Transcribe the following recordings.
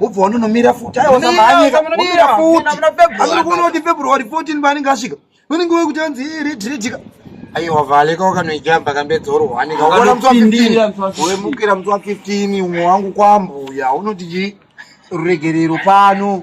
wobva wanonomira futi aiwa samhanyika womira futi amiri kuona kuti february 14 paanenge asvika unenge wekuti anzi redredika aiwa vale ka wakanoijamba kambedzorwa anenge wakaona musi wa 15 wemukira musi wa 15 umwe wangu kwambuya unoti chii ruregerero pano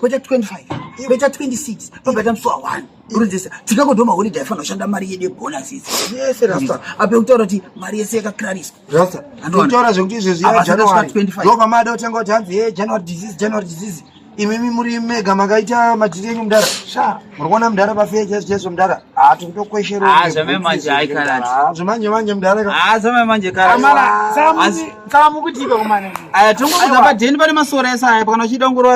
kweta 25 kweta 26 pabata musi wa 1 urinzese tikakodoma holiday aifana kushanda mari yedu yebonuses yese rasta ape kutaura kuti mari yese yakakirariswa rasta andotaura zvekuti izvezvi ya january ndo pamada kutanga kuti hanzi ye january disease january disease imimi muri mega makaita madhiri enyu mudara sha muri kuona mudhara pafeya chaiso chaiso mudhara haa tiri kutokwesherozvamanje manje mudharazvamanje karaamukutiika kumane aya tongokuza padheni pane masora ese aya pakana uchida ngoro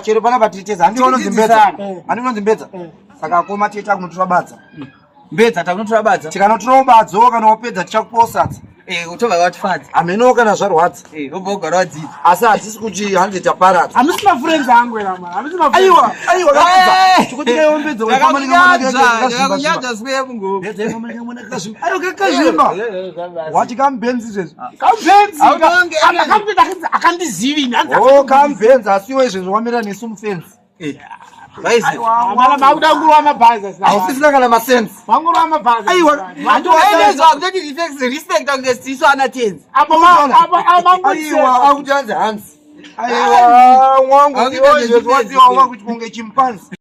chero pana patiteza handiona zimbedza handiona zimbedza saka akoma tiita kunotirabadza mm. mbedza takunotora badza tikanotorawo badzawo kana wapedza tichakuposadza eh, utova watifadza hamenowo kana zvarwadza eh, obva ugara wadzidza asi hatisi kuti hande taparadza hamisi mafurenzi angu erama hamisi aiwa aiwa kakudzakunyadza sweyemungoaikakazvimba wati kambenzi izvezvi ah. kambenzi akandizivini kambenzi oh, asiwo izvezvi wamira nesu mufenzi Eh, hausisina kana masenseaenezwakutotirespectangestisu ana tenzi akuti anzi hanzi aiwa mwangu kuti kunge chimpanzi